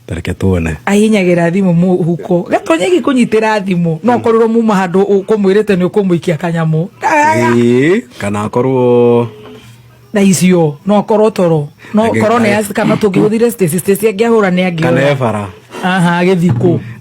tareke tuone ahinyagĩra thimũ mũhuko gatonye gĩkũnyitĩra thimũ no korwo muma handũ ũkũmwĩrĩte nĩ ũkũmũikia kanyamũ Ĩĩ, kana akorwo na icio no korwo toro no Agĩ- korwo nĩ agĩ- kana tũngĩhũthire stacy stacy angĩahũra nĩ kana angĩhũra ebara aha agĩthikũ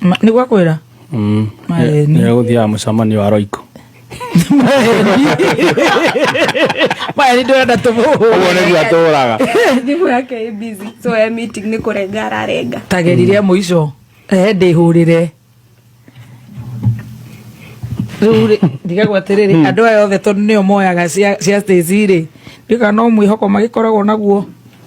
Ma- nĩ gwakwĩra Mm. Maeni. Nĩ gũthiaga mũcemanio wa roiko maya nĩ ndĩrenda tũmũhũre ũguo nĩguo atũraga thimũ yake ĩ busy so e meeting nĩ kũrenga ararenga tagerire mũico ehe ndĩhũrĩre rĩu rĩ ndigagwo atĩrĩrĩ andũ aya othe tondũ nĩo moyaga cia cia Stacy rĩ ndĩka no mwĩhoko magĩkoragwo naguo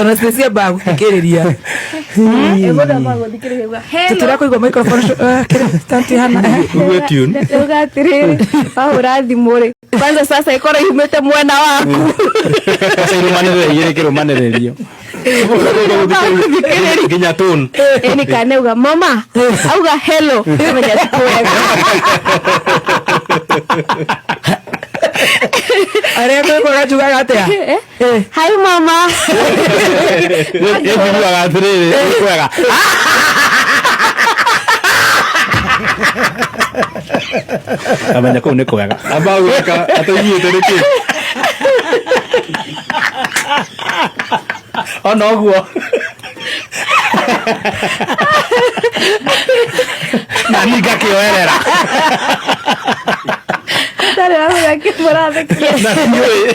ona cia mbaga gũthikĩrĩria tũtira kũigua microphone stanti hana uwe tune uga atiriri wahura thimũ rĩ kwanza sasa ĩkorwo ihumĩte mwena waku aca irũmanĩrĩra igĩrĩ kĩrũmanĩrĩrio nginya tone ĩni kana uga mama auga hello menya sikuwega arĩa kwĩkwaga njugaga atĩa Hi mama. Nĩnjiguaga atĩrĩrĩ, nĩ kwega. Amenya kũu nĩ kwega. Amba gwĩka ataiguĩte nĩkĩ? Ona ũguo. Na niĩ ngakĩoerera. Ndarĩ wamenya kĩmũrathekia. Na ndiũĩ.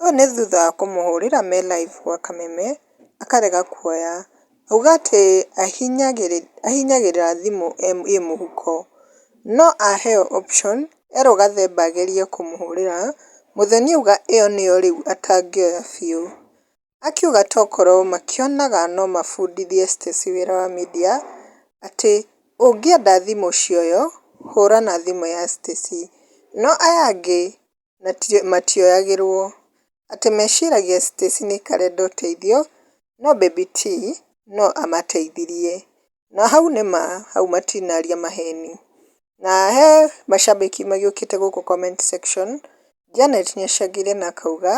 Ũyũ nĩ thutha wa kũmũhũrĩra me live gwa kameme akarega kuoya. Auga atĩ ahihinyagĩrĩra thimũ ĩ mũhuko. No aheo option erwo gathemba agerie kũmũhũrĩra, mũthoni auga ĩyo nĩyo rĩu atangĩoya biũ. Akiuga tokorwo makĩonaga no mabundithie Stacey wĩra wa media atĩ ũngĩenda thimũ cioywo hũra na thimũ ya Stacey. No aya angĩ na matioyagĩrwo. Atĩ meciragia Stacy nĩ karenda ũteithio no baby T no amateithirie. Na hau nĩ ma hau matinaria maheni. Na he macambĩki magĩũkĩte gũkũ comment section Janet nĩ acangĩre na akauga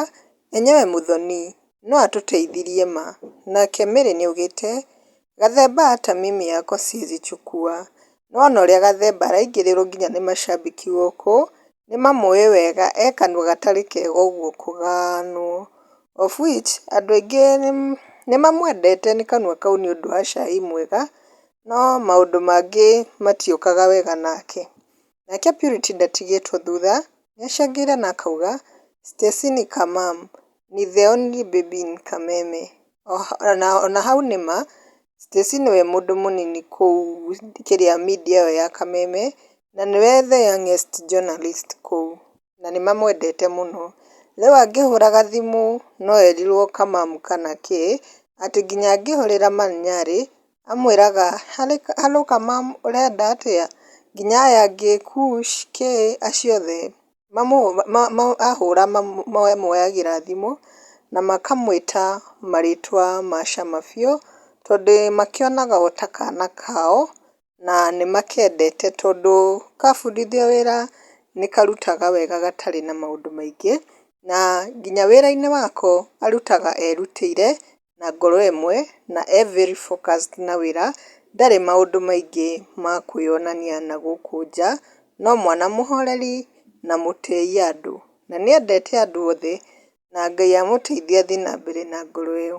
enyewe Muthoni no atũteithirie ma. Nake Mary nĩ augĩte Gathemba ata mimi yako siezi chukua nĩwona ũrĩa gathemba araingĩrĩrwo nginya nĩ macambĩki gũkũ nĩmamũĩ wega e kanua gatarĩ kega ũguo kũganwo of which andũ aingĩ nĩmamwendete nĩ kanua kau nĩũndũ wa cai mwega no maũndũ mangĩ matiũkaga wega nake. Nake Purity ndatigĩtwo thutha nĩacangĩre na akauga, Stacini ka mum, ni the only baby in Kameme. Ona hau nĩ ma, Stacini we mũndũ mũnini kũu kĩrĩa media ĩyo ya Kameme, na nĩwe the youngest journalist kũu, na nĩmamwendete mũno. Rĩu angĩhũraga thimũ no erirwo ka mum kana kĩ, atĩ nginya angĩhũrĩra ma Nyarĩ, amwĩraga hello ka mum ũrenda atĩa nginya aya angĩ kush kay acio othe ahũra mamoyagĩra thimũ na makamwĩta marĩtwa ma cama biũ tondũ makĩonaga o ta kana kao na nĩ makendete tondũ kabundithio wĩra nĩ karutaga wega gatarĩ na maũndũ maingĩ na nginya wĩra-inĩ wako arutaga erutĩire. na ngoro ĩmwe na e very focused na wĩra ndarĩ maũndũ maingĩ ma kwĩyonania na gũkũ nja no mwana mũhoreri na mũtĩi andũ na nĩendete andũ othe na Ngai amũteithie athiĩ na mbere na ngoro ĩyo.